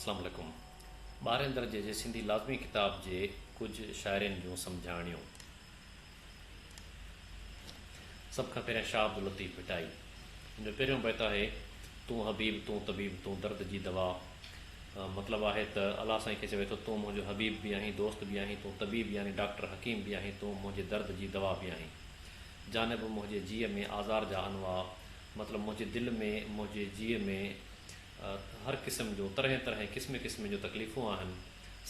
اسلام عليڪم ٻارهين درجي جي سنڌي لازمي ڪتاب جي ڪجهه شاعرين جون سمجهاڻيون. سڀ کان پهريان شاهه عبداللطيف ڀٽائي جن جو پهريون بيت آهي تون حبيب تون طبيب تون درد جي دوا مطلب آهي ته الله سائين کي چوي ٿو تون منهنجو حبيب به آهين دوست به آهين تون طبيب يعني ڊاڪٽر حڪيم به آهين تون منهنجي درد جي دوا به آهين جانب منهنجي جيء ۾ آزار جا انواع مطلب منهنجي دل ۾ منهنجي جيء ۾ هر قسم جو طرحين طرحين قسمين قسمين جو تڪليفون آهن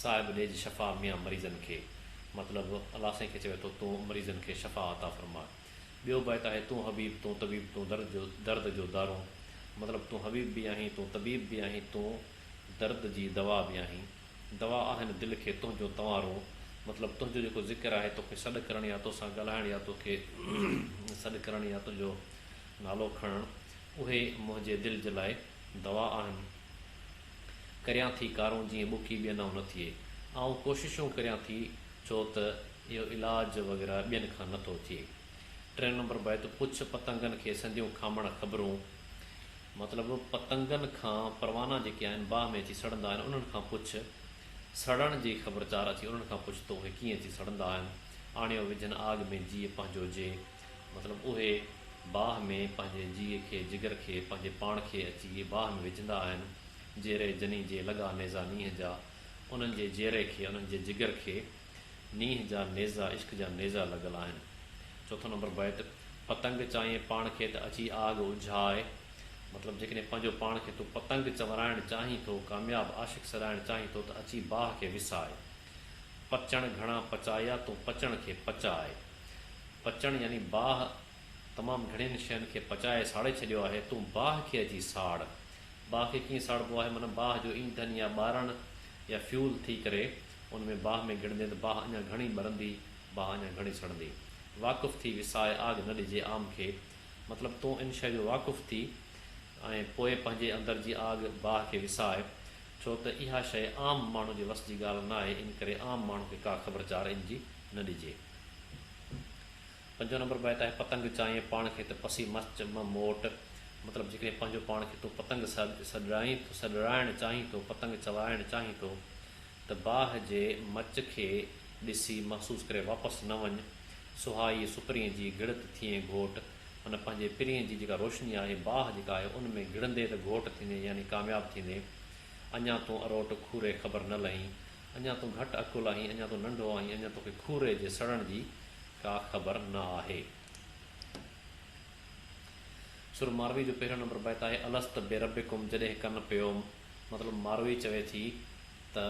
صاحب ڏيج شفا ميان مريضن کي مطلب الله سائين کي چوي ٿو تون مريضن کي شفا عطا فرما ٻيو بيت آهي تون حبيب تون طبيب تون درد جو درد جو دارو مطلب تون حبيب به آهين تون طبيب به آهين تون درد جي دوا به آهين. دوا آهن دل کي تنهنجو تنوارون مطلب تنهنجو جيڪو ذڪر آهي توکي سڏ ڪرڻ يا توسان ڳالهائڻ يا توکي سڏ ڪرڻ يا تنهنجو نالو کڻڻ اهي منهنجي دل جي لاء دوا آهن ڪريان ٿي ڪارون جيئن ٻڪي ٻين آئون نه ٿئي آئون ڪوششون ڪريان ٿي ڇو ته اهو علاج وغيره ٻين کان نه ٿو ٿئي ٽين نمبر بيت پڇ پتنگن کي سنديون کامڻ خبرون. مطلب پتنگن کان پروانا جيڪي آهن باهه ۾ اچي سڙندا آهن انهن کان پڇ سڙڻ جي خبرچار اٿي انهن کان پڇ ته اهي ڪيئن اچي سڙندا آهن آڻيو وجهن آڳ ۾ جيء پنهنجو جي مطلب اهي باهه ۾ پنهنجي جيء کي جگر کي پنهنجي پاڻ کي اچي باهه ۾ وجهندا آهن جيري جني جي لڳا نيزا نينهن جا انهن جي جيري کي انهن جي جگر کي نينهن جا نيزا عشق جا نيزا لڳل آهن. چوٿون نمبر بيت، پتنگ چاهين پاڻ کي ته اچي آڳ اجهاء. مطلب جيڪڏهن پنهنجو پاڻ کي تون پتنگ چورائڻ چاهين ٿو، ڪامياب عاشق سڏائڻ چاهين ٿو ته اچي باهه کي وساء. پچڻ گهڻا پچايا تون پچڻ کي پچاء. پچڻ يعني باهه تمام گهڻين شين کي پچائي ساڙي ڇڏيو آهي، تون باهه کي اچي ساڙ. باهه کي ڪيئن ساڙبو آهي؟ معنيٰ باهه جو اينڌن يا ٻارڻ يا فيول ٿي ڪري. ان ۾ باهه ۾ گهڙندين ته باهه اڃا گهڻي ٻرندي، باهه اڃا گهڻي سڙندي. واقف ٿي وسائي آڳ نه ڏجي عام کي، مطلب تون ان شيء جو واقف ٿي ۽ پوء پنهنجي اندر جي آڳ، باهه کي وساء، ڇو ته اها شيء عام ماڻهو جي وس جي ڳالهه ناهي، ان ڪري عام ماڻهو کي ڪا خبرچار ان جي نه ڏجي. پنجون نمبر بيت آهي، پتنگ چائين پاڻ کي ته پسي مرچ م موٽ. مطلب جيڪڏهن پنهنجو پاڻ کي تون پتنگ سڏرائين ٿو سڏرائڻ چاهين ٿو، پتنگ چوائڻ چاهين ٿو، ته باهه جي مرچ کي ڏسي محسوس ڪري واپس نه وڃ. سهائي سپرين جي گهڙت ٿئين گهوٽ. معنيٰ پنهنجي پرين جي جيڪا روشني آهي، باهه جيڪا آهي، ان ۾ گهڙندي ته گهوٽ ٿيندين يعني ڪامياب ٿيندين. اڃا تون اروٽ کوري خبر نه لهين. اڃا تون گهٽ عقل آهين، اڃا تون ننڍو آهين، اڃا توکي کوري جي سڙڻ جي ڪا خبر نه آهي. سر ماروي جو پهريون نمبر بيت آهي، الست بربڪم جڏهن ڪن پيوم، مطلب ماروي چوي ٿي ته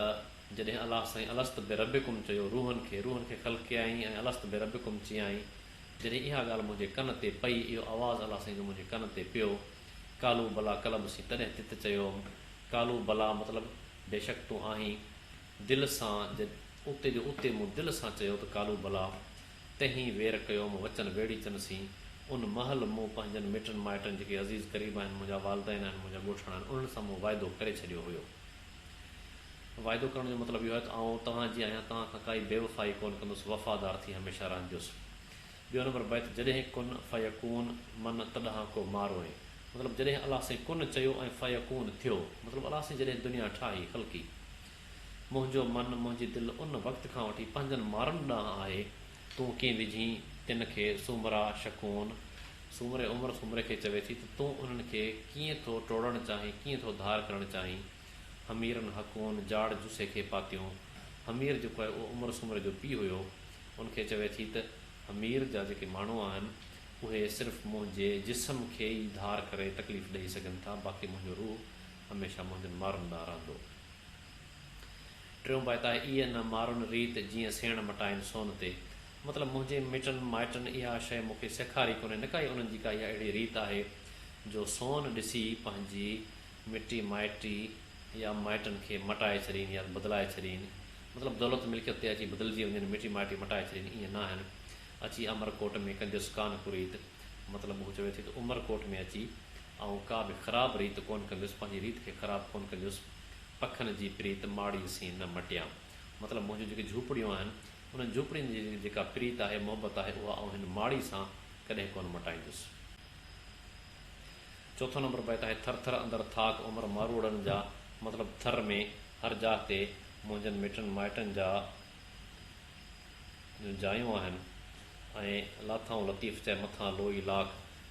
جڏهن الله سائين الست بربڪم چيو روحن کي، روحن کي خلقيائين ۽ الست بربڪم چيائين، جڏهن اها ڳالهه منهنجي ڪن تي پئي، اهو آواز الله سائين جو منهنجي ڪن تي پيو، قالوا بليٰ قلب سين تڏهن تت چيوم، قالوا بليٰ مطلب بيشڪ تون آهين دل سان جد اتي جو اتي مون دل سان چيو ته قالو بلا تنهي وير ڪيوم وچن ويڙهي چن سين ان مهل مون پنهنجن مٽن مائٽن جيڪي عزيز قريب آهن منهنجا والدين آهن منهنجا ڳوٺاڻا آهن انهن سان مون واعدو ڪري ڇڏيو هيو واعدو ڪرڻ جو مطلب اهو آهي ته آئون توهان جي آهيان توهان کان ڪائي بيوفائي ڪون ڪندس وفادار ٿي هميشه رهنجس ٻيو نمبر بيت، جڏهن ڪن فيڪون من تڏهان ڪو مارو ۽ مطلب جڏهن الله سائين ڪن چيو ۽ فيڪون ٿيو مطلب الله سائين جڏهن دنيا ٺاهي خلقي منهنجو من منهنجي دل ان وقت کان وٺي پنهنجن مارن ڏانهن آهي تون ڪين وجهين تن کي سومرا شڪون سومري عمر سومري کي چوي ٿي ته تون انهن کي ڪيئن ٿو ٽوڙڻ چاهين ڪيئن ٿو ڌار ڪرڻ چاهين حميرن حڪون جاڙ جسي کي پاتيون حمير جيڪو آهي اهو عمر سومري جو پيء هيو ان کي چوي ٿي ته امير جا جيڪي ماڻهو آهن اهي صرف منهنجي جسم کي ئي ڌار ڪري تڪليف ڏئي سگهن ٿا باقي منهنجو روح هميشه منهنجن مارن ڏانهن رهندو. ٽيون بيت آهي ايء نه مارن ريت جيئن سيڻ مٽائن سون تي مطلب منهنجي مٽن مائٽن اها شيء مون کي سيکاري ڪونهي نه ڪائي انهن جي ڪا اها اهڙي ريت آهي جو سون ڏسي پنهنجي مٽي مائٽي يا مائٽن کي مٽائي ڇڏين يا بدلائي ڇڏين مطلب دولت ملڪيت تي اچي بدلجي وڃن مٽي مائٽي مٽائي ڇڏين ائين ناهن اچي امر ڪوٽ ۾ ڪنجس ڪانه ڪريت مطلب هو چوي ٿي ته عمر ڪوٽ ۾ اچي آئون ڪا به خراب ريت ڪون ڪنديس پنهنجي ريت کي خراب ڪون ڪنديس پکن جي پريت ماڙي سين نه مٽيان مطلب منهنجون جيڪي جهوپڙيون آهن انهن جهوپڙين جي جيڪا پريت آهي محبت آهي اها آئون هن ماڙي سان ڪڏهن ڪون مٽائيندس. چوٿون نمبر بيت آهي، ٿر ٿر اندر ٿاڪ عمر ماروئڙن جا، مطلب ٿر ۾ هر جاء تي منهنجن مٽن مائٽن جا جون جايون آهن ۽ لاٿائون لطيف چئي مٿان لوئي لاک،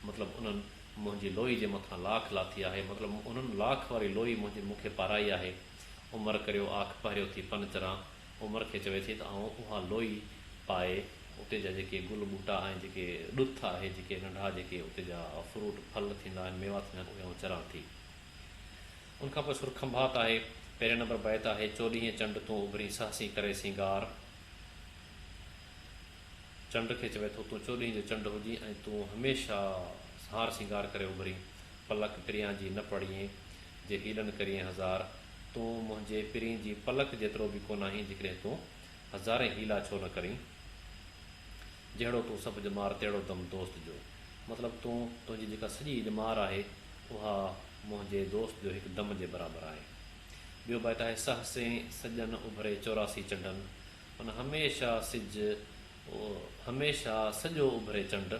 مطلب انهن منهنجي لوئي جي مٿان لاک لاٿي آهي، مطلب انهن لاک واري لوئي منهنجي مون کي پارائي آهي، عمر ڪريو آک پهريو ٿي پن چران، عمر کي چوي ٿي ته آئون اها لوئي پائي اتي جا جيڪي گل ٻوٽا ۽ جيڪي ڏٿ آهي جيڪي ننڍا جيڪي اتي جا فروٽ ڦل ٿيندا آهن ميوا ٿيندا آهن اهي آئون چران ٿي. ان کان پوء سر کنڀات آهي. پهرين نمبر بيت آهي چوڏهينء چنڊ تون اڀرين سهسين ڪري سينگار. چنڊ کي چوي ٿو تون چوڏهينء جو چنڊ هجين ۽ تون هميشه هار سينگار ڪري اڀرين. پلڪ پريان جي نه پڙيين. جي هيڏن ڪريئين هزار، تون منهنجي پرين جي پلڪ جيترو به ڪوناهين جيڪڏهن تون هزارين حيلا ڇو نه ڪرين. جهڙو تون سڀ ڄمار تهڙو دم دوست جو. مطلب تون تنهنجي جيڪا سڄي ڄمار آهي اها منهنجي دوست جو هڪ دم جي برابر آهي. ٻيو بيت آهي سهسين سڄن اڀري چوراسي چنڊن هن هميشه سج، هميشه سڄو اڀري چنڊ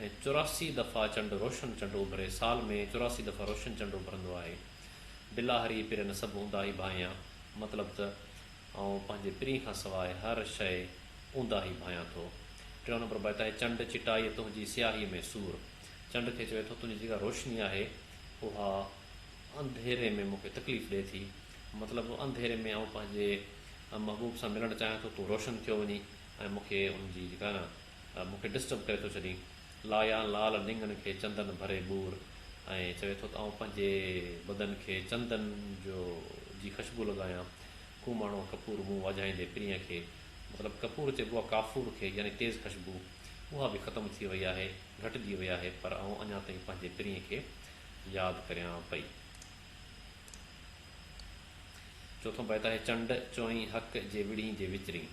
۽ چوراسي دفعا چنڊ روشن چنڊ اڀري، سال ۾ چوراسي دفعا روشن چنڊ اڀرندو آهي. بلاهري پرين سڀ اونداهي ڀانئيان، مطلب ته آئون پنهنجي پرين کان سواء هر شيء اونداهي ڀانئيان ٿو. ٽيون نمبر بيت آهي، چنڊ چٽائيء تنهنجي سياهيء ۾ سور. چنڊ کي چوي ٿو، تنهنجي جيڪا روشني آهي، اها انڌيري ۾ مون کي تڪليف ڏئي ٿي. مطلب هو انڌيري ۾ آئون پنهنجي محبوب سان ملڻ چاهيان ٿو تون روشن ٿيو وڃين ۽ مون کي ان جي جيڪا نه مون کي ڊسٽرب ڪري ٿو ڇڏين لايان لال نينگن کي چندن ڀري ٻور ۽ چوي ٿو ته آئون پنهنجي بدن کي چندن جو جي خشبو لڳايان ڪوماڻو ڪپور منهن واجهائيندي پرينء کي مطلب ڪپور چئبو آهي ڪافور کي يعني تيز خشبو اها به ختم ٿي وئي آهي گهٽجي وئي آهي پر آئون اڃا تائين پنهنجي پرينء کي ياد ڪريان پئي. چوٿون بيت آهي چنڊ چوئين حق جي وڙهين جي وچرين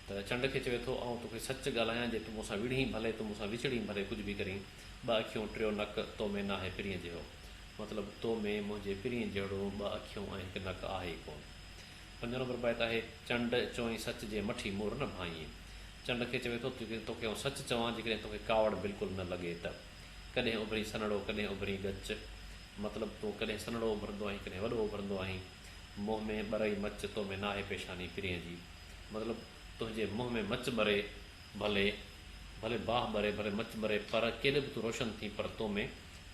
ته چنڊ کي چوي ٿو آئون توکي سچ ڳالهايان جي تون مون سان وڙهين ڀلي تون مون سان وچڙين ڀلي ڪجهه به ڪرين ٻه اکيون ٽيو نڪ تو ۾ ناهي پرينء جهڙو مطلب تو ۾ منهنجي پرينء جهڙو ٻه اکيون ۽ هڪ نڪ آهي ئي ڪون. پنجون نمبر بيت آهي چنڊ چوئين سچ جي مٺي مور نه ڀانئين چنڊ کي چوي ٿو جيڪڏهن توکي آئون سچ چوان جيڪڏهن توکي ڪاوڙ بلڪل نه لڳي ته ڪڏهن اڀرين سنهڙو ڪڏهن اڀرين ڳچ مطلب تون ڪڏهن سنهڙو اڀرندو آهين ڪڏهن وڏو اڀرندو آهين منهن ۾ ٻرئي مچ تو ۾ ناهي پيشاني پرينء جي مطلب تنهنجي منهن ۾ مچ ٻري ڀلي ڀلي باهه ٻري ڀلي مچ ٻري پر ڪيڏو به تون روشن ٿين پر تو ۾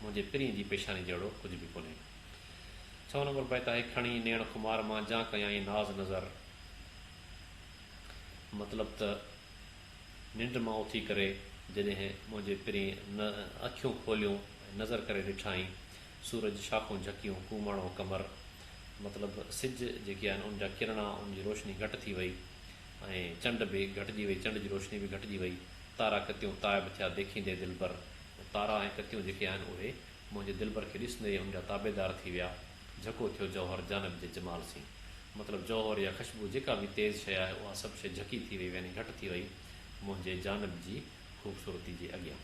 منهنجي پرينء جي پيشاني جهڙو ڪجهه به ڪونهي ڇهون نمبر بيت آهي کڻي نيڻ خمار مان جان ڪيائين ناز نظر مطلب ته ننڊ مان اٿي ڪري جڏهن منهنجي پرين نه اکيون کوليون ۽ نظر ڪري ڏٺائين، سورج شاخون جهڪيون، ڪوماڻو قمر مطلب سج جيڪي آهن ان جا ڪرڻا، ان جي روشني گهٽ ٿي وئي ۽ چنڊ به گهٽجي وئي، چنڊ جي روشني به گهٽجي وئي، تارا ڪتيون تائب ٿيا ديکيندي دلبر، تارا ۽ ڪتيون جيڪي آهن اهي منهنجي دلبر کي ڏسندي ان جا تابعدار ٿي ويا. جهڪو ٿيو جوهر جانب جي جمال سين مطلب جوهر يا خشبو جيڪا به تيز شيء آهي اها سڀ شيء جهڪي ٿي وئي يعني گهٽ ٿي وئي منهنجي جانب جي خوبصورتي جي اڳيان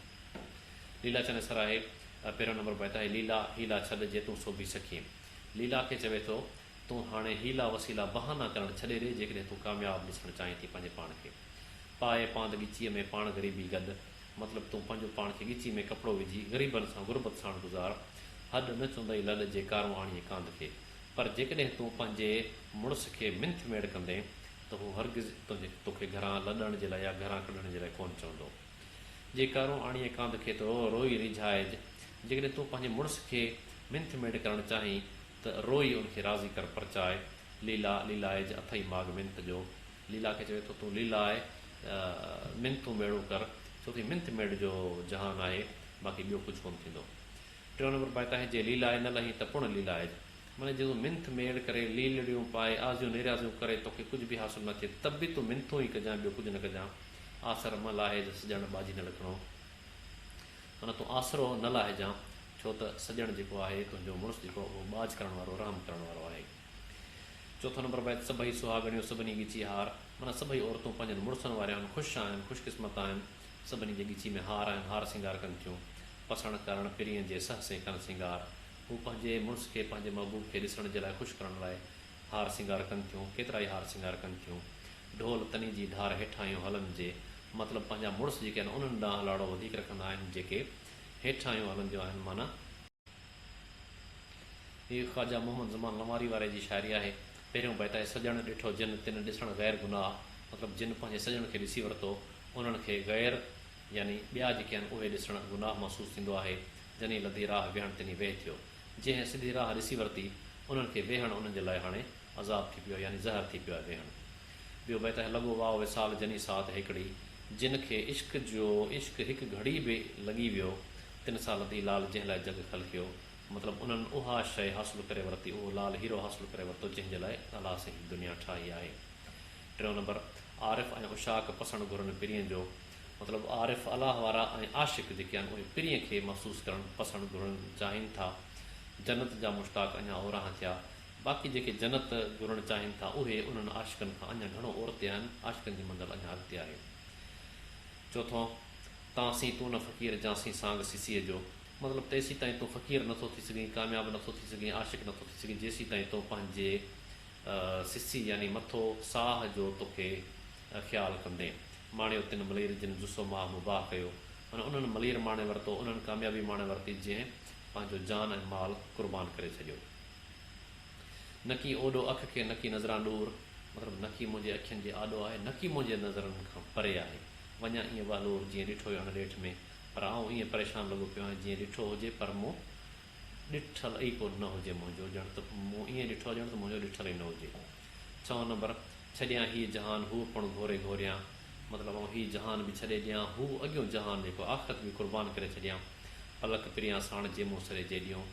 ليلا چني سراهي پهريون نمبر بيت آهي ليلا حيلا ڇڏ جي تون سوڀي سکين ليلا کي چوي ٿو تون هاڻي حيلا وسيلا بهانا ڪرڻ ڇڏي ڏي جيڪڏهن تون ڪامياب ڏسڻ چاهين ٿي پنهنجي پاڻ کي پاء پاند ڳچيء ۾ پاڻ غريبي گڏ مطلب تون پنهنجو پاڻ کي ڳچي ۾ ڪپڙو وجهي غريبن سان غربت ساڻ گذار. هڏ نه چوندئي لڏ جي ڪارون آڻيئي ڪانڌ کي. پر جيڪڏهن تون پنهنجي مڙس کي منٿ ميڙ ڪندين ته هو هرگز توکي گهران لڏڻ جي لاء يا گهران ڪڍڻ جي لاء ڪونه چوندو. جي ڪارون آڻيئي ڪانڌ کي ته روئي ريجهائج. جيڪڏهن تون پنهنجي مڙس کي منٿ ميڙ ڪرڻ چاهين ته روئي ان کي راضي ڪر پرچاء. ليلا، ليلائج، اٿئي ماڳ منٿ جو، ليلا کي چوي ٿو تون ليلا آهي ته منٿون ميڙون ڪر ڇو ڪي منٿ ميڙ جو جهان آهي باقي ٻيو ڪجهه ڪونه ٿيندو. ٽيون نمبر بائڪ آهي جي ليلا آهي نه لهين ته پڻ ليلا آهي معني جي تون منٿ ميڙ ڪري ليلڙيون پائي آزيون نيريازيون ڪري توکي ڪجهه به حاصل نه ٿئي ته به تون منٿون ئي ڪجان ٻيو ڪجهه نه ڪجان آسر مه لاهج سڄڻ ٻاجهي نه لکڻو معني تون آسرو نه لاهجان ڇو ته سڄڻ جيڪو آهي تنهنجو مڙس جيڪو اهو ٻاجهه ڪرڻ وارو رحم ڪرڻ وارو آهي. چوٿون نمبر بيت، سڀئي سهاڳڻيون سڀني ڳچي هار، معنيٰ سڀئي عورتون پنهنجن مڙسن واريون آهن، خوش آهن، خوش قسمت آهن، سڀني جي ڳچي ۾ هار آهن، هار سينگار ڪن ٿيون، پسڻ ڪرڻ پرينء جي سهه سين ڪن سينگار، هو پنهنجي مڙس کي پنهنجي محبوب کي ڏسڻ جي لاء خوش ڪرڻ لاء هار سينگار ڪن ٿيون، ڪيترائي هار سينگار ڪن ٿيون، ڍول تني جي ڍار هيٺاهيون هلن جي مطلب پنهنجا مڙس جيڪي آهن انهن ڏانهن لاڙو وڌيڪ رکندا آهن جيڪي هيٺاهيون هلنديون آهن معنيٰ. هيء خواجه محمد زمان لنواري واري جي شاعري آهي. پهريون بيت آهي، سڄڻ ڏٺو جن، تن ڏسڻ غير گناهه. مطلب جن پنهنجي سڄڻ کي ڏسي ورتو، انهن کي غير يعني ٻيا جيڪي آهن اهي ڏسڻ گناهه محسوس ٿيندو آهي. جني لڌي راهه ويهڻ تني ويهه ٿيو. جنهن سڌي راهه ڏسي ورتي، انهن کي ويهڻ انهن جي لاء هاڻي. عذاب ٿي پيو يعني زهر ٿي پيو آهي ويهڻ ٻيو بيت آهي لڳو واء وصال جني ساعت هيڪڙي جن کي عشق جو عشق هڪ گهڙي به لڳي ويو تن سان لڌي لال جنهن لاء جڳ خلقيو مطلب انهن اها شيء حاصل ڪري ورتي اهو لال هيرو حاصل ڪري ورتو جنهن جي لاء الله سائين هي دنيا ٺاهي آهي ٽيون نمبر عارف ۽ عشاق پسڻ گهرن پرين جو مطلب عارف الله وارا ۽ عاشق جيڪي آهن اهي پرين کي محسوس ڪرڻ پسڻ گهرن چاهين ٿا جنت جا مشتاق اڃا اورانهن ٿيا باقي جيڪي جنت گهرڻ چاهين ٿا اهي انهن عاشقن کان اڃا گهڻو اورتي آهن، عاشقن جي منزل اڃا اڳتي آهي. چوٿون، تان سين تون نه فقير جان سين سانگ سيسيء جو. مطلب ته ايسين تائين تون فقير نه ٿو ٿي سگهين، ڪامياب نه ٿو ٿي سگهين، عاشق نه ٿو ٿي سگهين جيسين تائين تون پنهنجي سيسي يعني مٿو، ساهه، جو توکي خيال ڪندين. ماڻيو تن ملير جن جسو ماهه مباح ڪيو. معنيٰ انهن ملير ماڻي ورتو، انهن ڪاميابي ماڻي ورتي جنهن پنهنجو جان ۽ مال قربان ڪري ڇڏيو. نڪي اوڏو اک کي نڪي نظران ڏور مطلب نڪي منهنجي اکين جي آڏو آهي نڪي منهنجي نظرن کان پري آهي وڃان ائين وهلور جيئن ڏٺو هيو هن ڏيٺ ۾ پر آئون ائين پريشان لڳو پيو آهيان جيئن ڏٺو هجي پر مون ڏٺل ئي ڪو نه هجي منهنجو ڄڻ ته مون ائين ڏٺو ڄڻ ته منهنجو ڏٺل ئي نه هجي ڇهون نمبر ڇڏيان هي جهان هو پڻ گهوري گهوريان مطلب آئون هي جهان به ڇڏي ڏيان هو اڳيون جهان جيڪو آخرت به قربان ڪري ڇڏيان پلڪ پريان ساڻ جي مون سري جيڏيون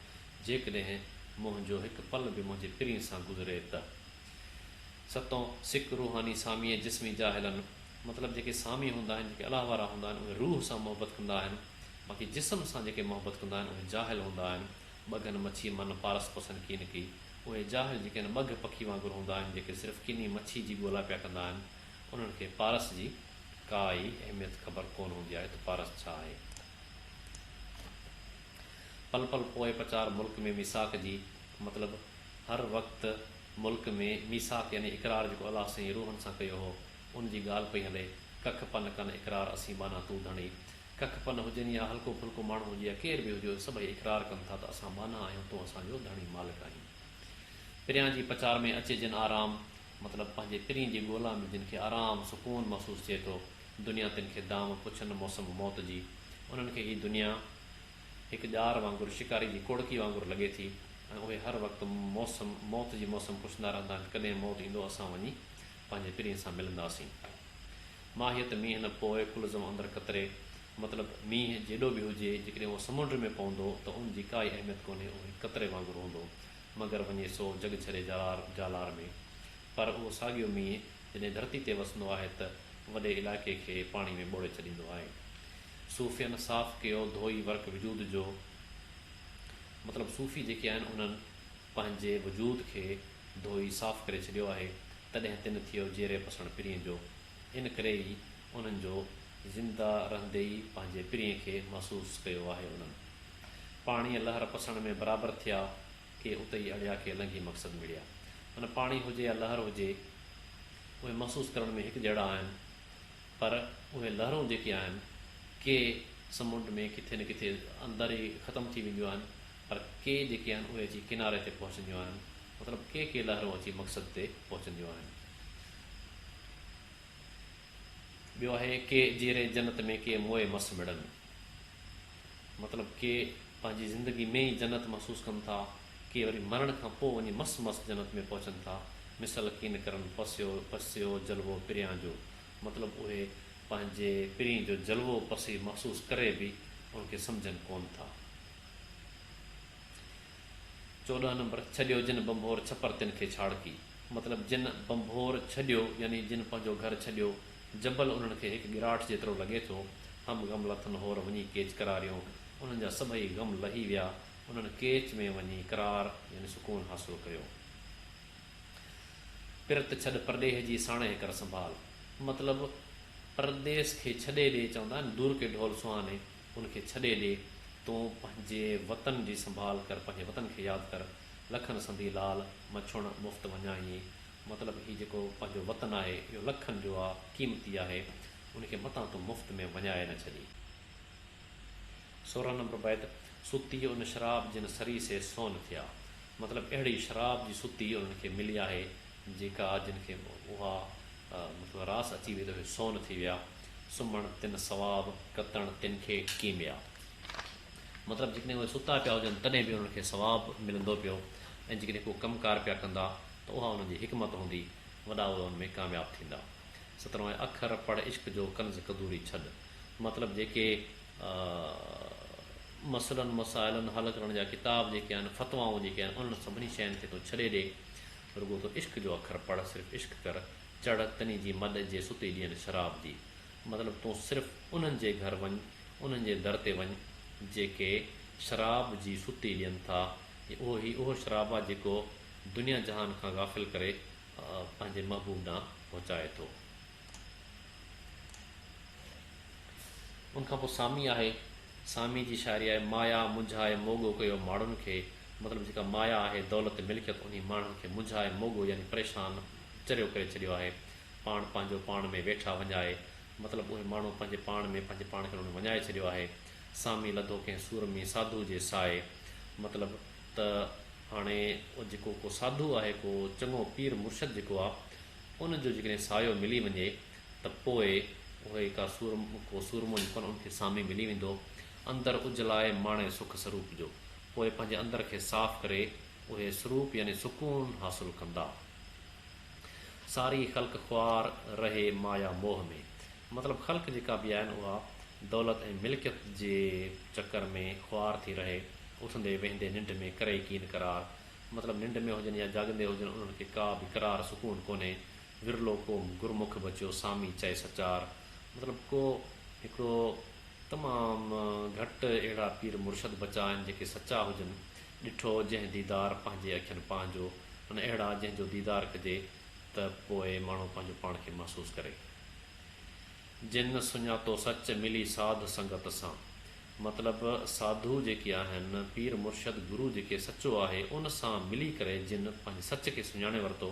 جيڪڏهن منهنجو هڪ پل به منهنجي پرينء سان گذري ته. ستون، سڪ، روحاني، سامي ۽ جسمي جاهلن، مطلب جيڪي سامي هوندا آهن، جيڪي الله وارا هوندا آهن، اهي روح سان محبت ڪندا آهن، باقي جسم سان جيڪي محبت ڪندا آهن، اهي جاهل هوندا آهن، ٻگهن مڇي من پارس پسن ڪين ڪي، اهي جاهل جيڪي هن ٻگهه پکي وانگر هوندا آهن، جيڪي صرف ڪني مڇي جي ڳولا پيا ڪندا آهن، انهن کي پارس جي ڪا ئي اهميت خبر ڪون هوندي آهي ته پارس ڇا آهي. پل پل پوء پچار ملڪ ۾ ميثاق جي مطلب هر وقت ملڪ ۾ ميثاق يعني اقرار جيڪو الله سائين روحن سان ڪيو هو ان جي ڳالهه پئي هلي ڪک پن ڪن اقرار اسين ٻانها تون ڌڻي ڪک پن هجن يا هلڪو ڦلڪو ماڻهو هجي يا ڪير به هجو سڀئي اقرار ڪن ٿا ته اسان ٻانها آهيون تون اسان جو ڌڻي مالڪ آهين پريان جي پچار ۾ اچي جن آرام مطلب پنهنجي پرين جي ڳولا ۾ جن کي آرام سڪون محسوس ٿئي ٿو. دنيا تن کي دام پڇن موسم موت جي. انهن کي هي دنيا هڪ ڄار وانگر، شڪاري جي ڪوڙڪي وانگر لڳي ٿي ۽ اهي هر وقت موسم موت جي موسم پڇندا رهندا آهن ڪڏهن موت ايندو اسان وڃي پنهنجي پرين سان ملنداسين. ماهيت مينهن نه پوء ڪلزم اندر قطري مطلب مينهن جيڏو به هجي جيڪڏهن اهو سمنڊ ۾ پوندو ته ان جي ڪائي اهميت ڪونهي اهو هڪ قطري وانگر هوندو مگر وڃي سو جڳ ڇڏي جالار جالار ۾ پر اهو ساڳيو مينهن جڏهن ڌرتي تي وسندو آهي ته وڏي علائقي کي پاڻي ۾ ٻوڙي ڇڏيندو آهي. صوفين صاف ڪيو ڌوئي ورق وجود جو مطلب صوفي جيڪي آهن انهن پنهنجي وجود کي ڌوئي صاف ڪري ڇڏيو آهي تڏهن تن ٿيو جيري پسڻ پرينء جو ان ڪري ئي انهن جو زنده رهندي ئي پنهنجي پرينء کي محسوس ڪيو آهي انهن پاڻيء لهر پسڻ ۾ برابر ٿيا کي ات ئي اڙيا کي النگي مقصد مڙيا معنيٰ پاڻي هجي يا لهر هجي اهي محسوس ڪرڻ ۾ هڪ جهڙا آهن پر اهي لهرون جيڪي آهن ڪي سمنڊ ۾ ڪٿي نه ڪٿي اندر ئي ختم ٿي وينديون آهن پر ڪي جيڪي آهن اهي اچي ڪناري تي پهچنديون آهن مطلب ڪي ڪي لهرون اچي مقصد تي پهچنديون آهن. ٻيو آهي ڪي جيري جنت ۾ ڪي موئي مس مڙن مطلب ڪي پنهنجي زندگي ۾ ئي جنت محسوس ڪن ٿا ڪي وري مرڻ کان پوء وڃي مس مس جنت ۾ پهچن ٿا مثل ڪين ڪرن پسيو پسيو جلوو پريان جو مطلب اهي پنهنجي پرين جو جلوو پسي محسوس ڪري به ان کي سمجهن ڪون ٿا. چوڏهن نمبر، ڇڏيو جن ڀنڀور ڇپر تن کي ڇاڙڪي. مطلب جن ڀنڀور ڇڏيو يعني جن پنهنجو گهر ڇڏيو، جبل انهن کي هڪ ڳراٺ جيترو لڳي ٿو، هم غم لٿن هور وڃي ڪيچ قراريون، انهن جا سڀئي غم لهي ويا، انهن ڪيچ ۾ وڃي قرار يعني سڪون حاصل ڪيو. پرت ڇڏ پرڏيهه جي ساڻيهه ڪر سنڀال. مطلب پرديس کي ڇڏي ڏي چوندا آهن دور ڪي ڍول سهاني ان کي ڇڏي ڏي، تون پنهنجي وطن جي سنڀال ڪر، پنهنجي وطن کي ياد ڪر، لکن سندي لال، مڇڻ مفت وڃائينء. مطلب هي جيڪو پنهنجو وطن آهي، اهو لکن جو آ، قيمتي آهي، ان کي متان تون مفت ۾ وڃائي نه ڇڏين. سورهن نمبر بيت، ستي ان شراب جن سري سي سون ٿيا. مطلب اهڙي شراب جي ستي انهن کي ملي آهي، جيڪا جن کي اها مطلب راس اچي وئي ته اهي سون ٿي ويا، سمهڻ تن ثواب، ڪتڻ تن کي ڪيميا. مطلب جيڪڏهن اهي ستا پيا هجن تڏهن به انهن کي ثواب ملندو پيو ۽ جيڪڏهن ڪو ڪم ڪار پيا ڪندا ته اها انهن جي حڪمت هوندي، وڏا اهي ان ۾ ڪامياب ٿيندا. سترهون آهي، اکر پڙهه عشق جو ڪنز قدوري ڇڏ. مطلب جيڪي مسئلن مسائلن حل ڪرڻ جا ڪتاب جيڪي آهن، فتوائون جيڪي آهن، انهن سڀني شين کي تون ڇڏي ڏي. رڳو تو عشق جو اکر پڙهه صرف عشق ڪر چڙهه تني جي مڏ جي ستي ڏين شراب جي مطلب تون صرف انهن جي گهر وڃ انهن جي در تي وڃ جيڪي شراب جي ستي ڏين ٿا ۽ اهو هي اهو شراب آ جيڪو دنيا جهان کان غافل ڪري پنهنجي محبوب ڏانهن پهچائي ٿو. ان کان پوء سامي آهي. سامي جي شاعري آهي، مايا منجهائي موڳو ڪيو ماڙهن کي، مطلب جيڪا مايا آهي، دولت ملڪيت انهي ماڻهن کي منجهائي موڳو يعني پريشان، چريو ڪري ڇڏيو آهي. پاڻ پنهنجو پاڻ ۾ ويٺا وڃائي، مطلب اهي ماڻهو پنهنجي پاڻ ۾ پنهنجي پاڻ کي انهن وڃائي ڇڏيو آهي. سامي لڌو ڪنهن سورمي ساڌوء جي سائي، مطلب ته هاڻي جيڪو ڪو ساڌو آهي، ڪو چڱو پير مرشد جيڪو آ، ان جو جيڪڏهن سايو ملي وڃي ته پوء اهي ڪا سورمو ڪو سورمو جيڪو آهن ان کي سامي ملي ويندو اندر اجلائي ماڻي سک سروپ جو پوء پنهنجي اندر کي صاف ڪري اهي سروپ يعني سڪون حاصل ڪندا ساري خلق خوار رهي مايا موهه ۾ مطلب خلق جيڪا به آهن اها دولت ۽ ملڪيت جي چڪر ۾ خوار ٿي رهي اٿندي ويهندي ننڊ ۾ ڪري ڪين قرار مطلب ننڊ ۾ هجن يا جاڳندي هجن انهن کي ڪا به قرار سڪون ڪونهي، ورلو ڪو گرمک بچيو سامي چئي سچار، مطلب ڪو هڪڙو تمام گهٽ اهڙا پير مرشد بچا آهن جيڪي سچا هجن، ڏٺو جنهن ديدار پنهنجي اکين پنهنجو ان اهڙا جنهن جو ديدار ڪجي ته پوء ماڻهو پنهنجو پاڻ کي محسوس ڪري. جن سڃاتو سچ ملي ساڌ سنگت سان. مطلب ساڌو جيڪي آهن، پير مرشد گرو جيڪي سچو آهي ان سان ملي ڪري جن پنهنجي سچ کي سڃاڻي ورتو،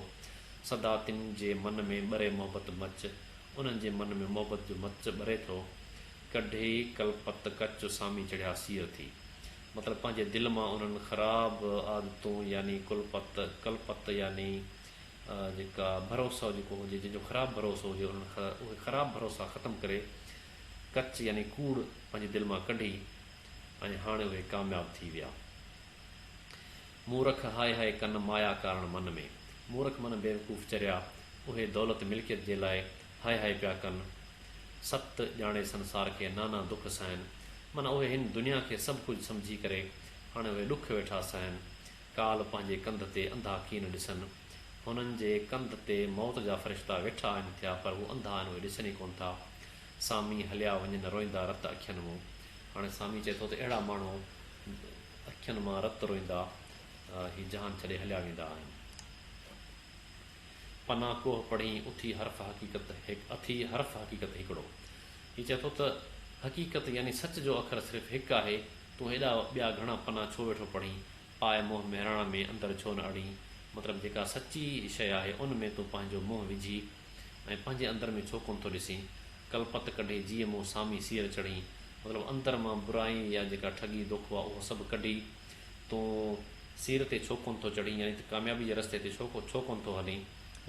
سدا تن جي من ۾ ٻري محبت مچ، انهن جي من ۾ محبت جو مچ ٻري ٿو، ڪڍي ڪلپت ڪچ سامي چڙهيا سير ٿي. مطلب پنهنجي دل مان انهن خراب عادتون يعني ڪلپت، ڪلپت يعني جيڪا ڀروسو جيڪو هجي جنهن جو خراب ڀروسو هجي انهن اهي خراب ڀروسا ختم ڪري، ڪچ يعني ڪوڙ پنهنجي دل مان ڪڍي ۽ هاڻي اهي ڪامياب ٿي ويا. مورک هاء هاء ڪن مايا ڪارڻ من ۾، مورک معنيٰ بيوقوف چريا، اهي دولت ملڪيت جي لاء هاء هاء پيا ڪن. ست ڄاڻي سنسار کي نانا دک سهن، معنيٰ اهي هن دنيا کي سڀ ڪجهه سمجهي ڪري هاڻي اهي ڏک ويٺا سهن. ڪالهه پنهنجي ڪنڌ تي انڌا ڪين ڏسن. هنن جي ڪنڌ تي موت جا فرشتا ويٺا آهن ٿيا پر هو انڌا آهن اهي ڏسن ئي ڪونه ٿا. سامي هليا وڃن روئندا رت اکين مون هاڻي سامي چئي ٿو ته اهڙا ماڻهو اکين مان رت روئندا هي جهان ڇڏي هليا ويندا آهن پنا ڪوه پڙهين اٿي حرف حقيقت اٿي حرف حقيقت هڪڙو هي چئي ٿو ته حقيقت يعني سچ جو اکر صرف هڪ آهي تون هيڏا ٻيا گهڻا پنا ڇو ويٺو پڙهين پاء منهن مهراڻ ۾ اندر ڇو نه اڙين مطلب جيڪا سچي شيء آهي ان ۾ تون پنهنجو منهن وجهي ۽ پنهنجي اندر ۾ ڇو ڪونه ٿو ڏسين؟ ڪلپت ڪڍي جيء مون سامي سير چڙهين. مطلب اندر مان برائي يا جيڪا ٺڳي دوکو آ اهو سڀ ڪڍي تون سير تي ڇو ڪونه ٿو چڙهين يعني ته ڪاميابي جي رستي تي ڇو ڪونه ٿو هلين؟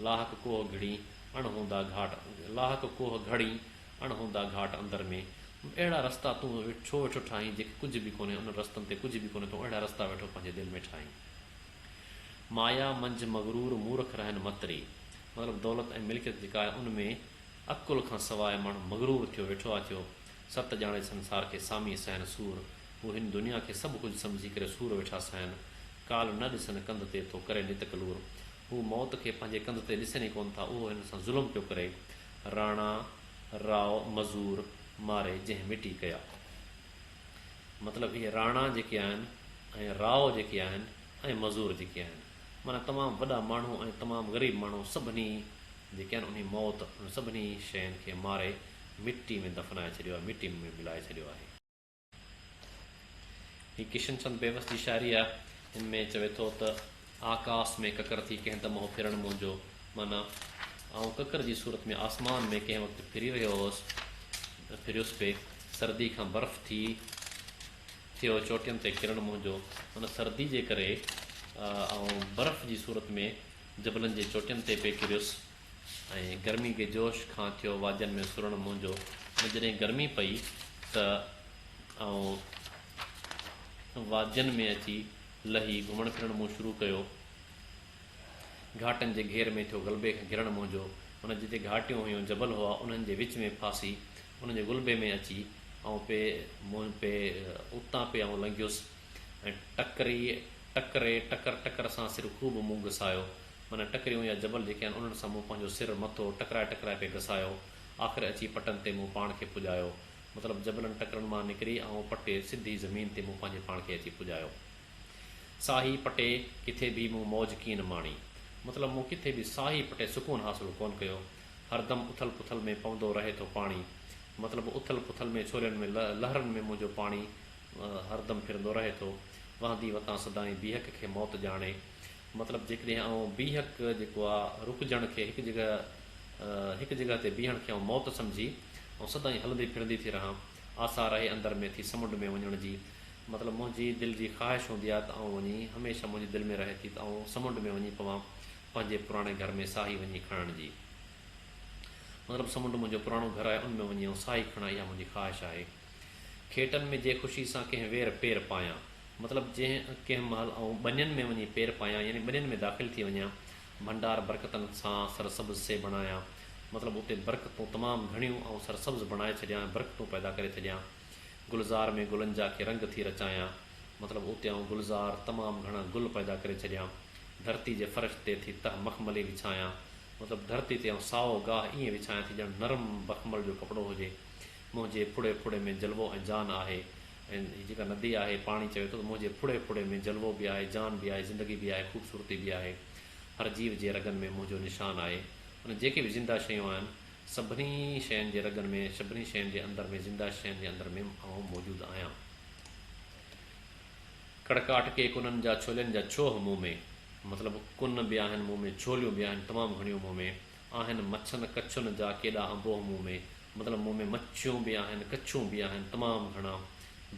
لاهڪ ڪوهه گهڙين اڻ هوندا گهاٽ لاهڪ ڪوهه گهڙين اڻ هوندا گهاٽ اندر ۾ اهڙا رستا تون ڇو ويٺو ٺاهين جيڪي ڪجهه به ڪونهي انهن رستن تي ڪجهه به ڪونهي تون اهڙا رستا ويٺو پنهنجي دل ۾ ٺاهين. مايا منجھ مغرور مورک رهن مت ري. مطلب دولت ۽ ملڪيت جيڪا آهي ان ۾ عقل کان سواء ماڻهو مغرور ٿيو ويٺو آهي ٿيو ست ڄاڻي سنسار کي سامي سهن سور هو هن دنيا کي سڀ ڪجھ سمجھي ڪري سور ويٺا سهن ڪالھ نه ڏسن ڪنڌ تي ٿو ڪري نت ڪلور هو موت کي پنهنجي ڪنڌ تي ڏسن ئي ڪون ٿا اهو هن سان ظلم پيو ڪري راڻا راء مزور ماري جنهن مٽي ڪيا. مطلب هي راڻا جيڪي آهن ۽ راء جيڪي آهن ۽ مزور جيڪي آهن معنيٰ تمام وڏا ماڻهو ۽ تمام غريب ماڻهو سڀني جيڪي آهن انهي موت انهن سڀني شين کي ماري مٽي ۾ دفنائي ڇڏيو آهي مٽي ۾ ملائي ڇڏيو آهي. هي ڪشن چند بيوس جي شاعري آهي ان ۾ چوي ٿو ته. آڪاس ۾ ڪڪر ٿي ڪنهن دمهو ڦرڻ منهنجو معنيٰ آئون ڪڪر جي صورت ۾ آسمان ۾ ڪنهن وقت ڦري رهيو هوس ڦريس پئي سردي کان برف ٿي ٿيو چوٽين تي ڪرڻ منهنجو معنيٰ سردي جي ڪري آئون برف جي صورت ۾ جبلن جي چوٽين تي پئي ڪريس ۽ گرمي جي جوش کان ٿيو وادين ۾ سرڻ منهنجو معنيٰ جڏهن گرمي پئي ته آئون وادين ۾ اچي لهي گهمڻ ڦرڻ مون شروع ڪيو. گهاٽن جي گهير ۾ ٿيو غلبي کان گهرڻ منهنجو. ان جتي گهاٽيون هيون، جبل هئا، انهن جي وچ ۾ ڦاسي، انهن جي غلبي ۾ اچي، آئون پئي، مون پئي، اتان پئي آئون لنگهيس ۽ ٽڪري، ٽڪري، ٽڪر، ٽڪر سان سر خوب مون گسايو. معنيٰ ٽڪريون يا جبل جيڪي آهن، انهن سان مون پنهنجو سر، مٿو، ٽڪرائي ٽڪرائي پئي گسايو. آخر اچي پٽن تي مون پاڻ کي پڄايو. مطلب جبلن ٽڪرن مان نڪري آئون پٽي سڌي زمين تي مون پنهنجي پاڻ کي اچي پڄايو. ساهي پٽي ڪٿي به مون موج ڪين ماڻي. مطلب مون ڪٿي به ساهي پٽي سڪون حاصل ڪون ڪيو. هردم اٿل پٿل ۾ پوندو رهي ٿو پاڻي. مطلب اٿل پٿل ۾ ڇولين ۾ لهرن ۾ منهنجو پاڻي هردم ڦرندو رهي ٿو. وهندي وتان سدائين بيهڪ کي موت ڄاڻي. مطلب جيڪڏهن آئون بيهڪ جيڪو آ رڪجڻ کي هڪ جڳهه هڪ جڳهه تي بيهڻ کي آئون موت سمجهي آئون سدائين هلندي پھرندي ٿي رهان آسا رهي اندر ۾ ٿي سمنڊ ۾ وڃڻ جي مطلب منهنجي دل جي خواهش هوندي آ ته آئون وڃي هميشه منهنجي دل ۾ رهي ٿي ته آئون سمنڊ ۾ وڃي پوان پنهنجي پراڻي گهر ۾ ساهي وڃي کڻڻ جي مطلب سمنڊ منهنجو پراڻو گهر آهي ان ۾ وڃي آئون ساهي کڻان اها منهنجي خواهش آهي. کيٽن ۾ جي خوشي سان ڪنهن وير پير پايان. مطلب جنهن ڪنهن مهل آئون ٻنين ۾ وڃي پير پايان يعني ٻنين ۾ داخل ٿي وڃان. ڀنڊار برڪتن سان سرسبز سي بڻايان. مطلب اتي برڪتون تمام گهڻيون آئون سرسبز بڻائي ڇڏيان ۽ برڪتون پيدا ڪري ڇڏيان. گلزار ۾ گلن جا ڪي رنگ ٿي رچايان. مطلب اتي آئون گلزار تمام گهڻا گل پيدا ڪري ڇڏيان. ڌرتي جي فرش تي ٿي تهه مخملي وڇايان. مطلب ڌرتي تي آئون سائو گاهه ائين وڇايان ٿي ڄڻ نرم بخمل جو ڪپڙو هجي. منهنجي ڦڙي ڦڙي ۾ جلوو ۽ جان آهي ۽ هي جيڪا ندي آهي پاڻي چوي ٿو ته منهنجي ڦڙي ڦڙي ۾ جلوو به آهي جان به آهي زندگي به آهي خوبصورتي به آهي هر جيو جي رڳن ۾ منهنجو نشان آهي ان جيڪي به زنده شيون آهن سڀني شين جي رڳن ۾ سڀني شين جي اندر ۾ زنده شين جي اندر ۾ آئون موجود آهيان ڪڙڪاٽ ڪي ڪنن جا ڇولين جا ڇوهه مون ۾ مطلب ڪن به آهن مون ۾ ڇوليون به آهن تمام گهڻيون مون ۾ آهن مڇن ڪڇن جا ڪيڏا انبوهه مون ۾، مطلب مون ۾ مڇيون به آهن ڪڇون به آهن تمام گهڻا،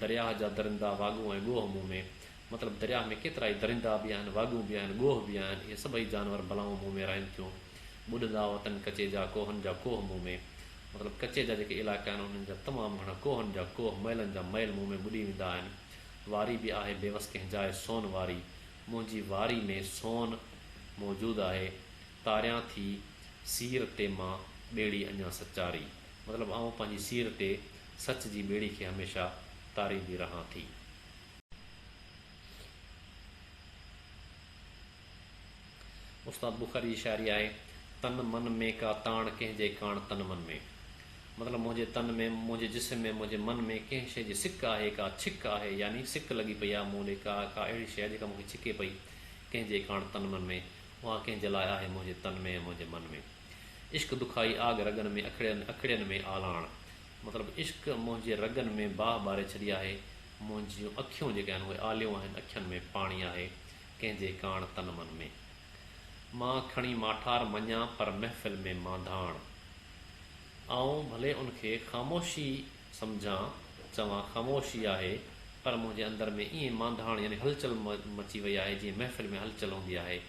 درياهه جا درندا واڳون ۽ ڳوهه مون ۾، مطلب درياهه ۾ ڪيترائي درندا به آهن واڳون به آهن ڳوهه به آهن اهي سڀئي جانور بلائون مون ۾ رهن ٿيون ٻڏندا وتن ڪچي جا ڪوهن جا ڪوهه مون ۾، مطلب ڪچي جا جيڪي علائقا آهن انهن جا تمام گهڻا ڪوهن جا ڪوهه مئلن جا مئل مون ۾ ٻڏي ويندا آهن واري به آهي بيوس ڪنهن جاء سون واري منهنجي واري ۾ سون موجود آهي تاريان ٿي سير تي مان ٻيڙي اڃا سچاري. مطلب آئون پنهنجي سير تي سچ جي ٻيڙي کي هميشه تاريندي رهان ٿي. استاد بخاري جي شاعري آهي، تن من ۾ ڪا تاڻ ڪنهن جي ڪاڻ تن من ۾. مطلب منهنجي تن ۾، منهنجي جسم ۾، منهنجي من ۾ ڪنهن شيء جي سڪ آهي، ڪا ڇڪ آهي يعني سڪ لڳي پئي آهي مون ڏي، ڪا ڪا اهڙي شيء جيڪا مون کي ڇڪي پئي، ڪنهن جي ڪاڻ تن من ۾. اها ڪنهن جي لاء آهي منهنجي تن ۾، منهنجي من ۾. عشق دکائي آڳ رڳن ۾، اکڙين اکڙين ۾ آلاڻ. مطلب عشق منهنجي رڳن ۾ باهه ٻاري ڇڏي آهي، منهنجيون اکيون جيڪي آهن اهي آليون آهن، اکين ۾ پاڻي آهي، ڪنهن جي ڪاڻ تن من ۾. مان کڻي ماٺار مڃان پر محفل ۾ مانڌاڻ. آئون ڀلي ان کي خاموشي سمجهان، چوان، خاموشي آهي، پر منهنجي اندر ۾ ائين مانڌاڻ يعني هلچل مچي وئي آهي، جيئن محفل ۾ هلچل هوندي آهي،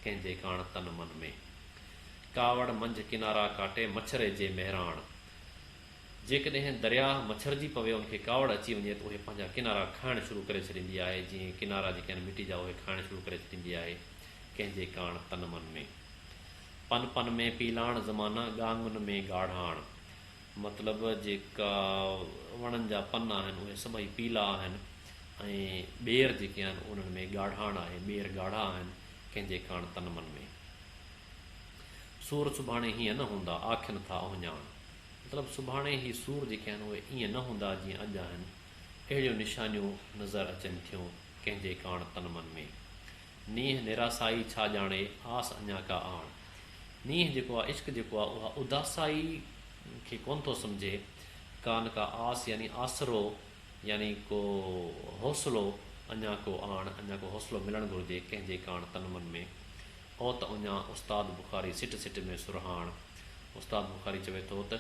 ڪنهن جي ڪاڻ تن من ۾. ڪاوڙ منجهه ڪنارا ڪاٽي مڇري جي مهراڻ. جيڪڏهن درياهه مڇرجي پوي ان کي ڪاوڙ اچي وڃي ته اهي پنهنجا ڪنارا کائڻ شروع ڪري ڇڏيندي آهي، جيئن ڪنارا جيڪي آهن مٽي جا اهي کائڻ شروع ڪري ڇڏيندي آهي، ڪنهن جي ڪاڻ تن من ۾. پن پن ۾ پيلاڻ زمانه ڳانگهن ۾ ڳاڙهاڻ. مطلب جيڪا وڻن جا پن آهن اهي سڀئي پيلا آهن ۽ ٻير جيڪي آهن انهن ۾ ڳاڙهاڻ آهي، ٻير ڳاڙها آهن ڪنهن جي ڪاڻ تن من ۾. سور سڀاڻي هيئن نه هوندا آکين ٿا اهڃاڻ مطلب سڀاڻي هي سور جيڪي آهن اهي ايئن نه هوندا جيئن اڄ آهن اهڙيون نشانيون نظر اچن ٿيون ڪنهن جي ڪاڻ تن من ۾. نينهن نراسائي ڇا ڄاڻي، آس اڃا ڪا آڻ. نينهن جيڪو آ، عشق جيڪو آ، اها اداسائي کي ڪونه ٿو سمجهي، ڪانه ڪا آس يعني آسرو يعني ڪو حوصلو، اڃا ڪو آڻ، اڃا ڪو حوصلو ملڻ گهرجي، ڪنهن جي ڪاڻ تن من ۾، او ته اڃا استاد بخاري سٽ سٽ ۾ سرهاڻ. استاد بخاري چوي ٿو ته،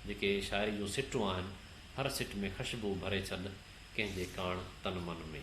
جيڪي شاعري جون سٽون آهن، هر سٽ ۾ خشبو ڀري ڇڏ، ڪنهن جي ڪاڻ تن من ۾.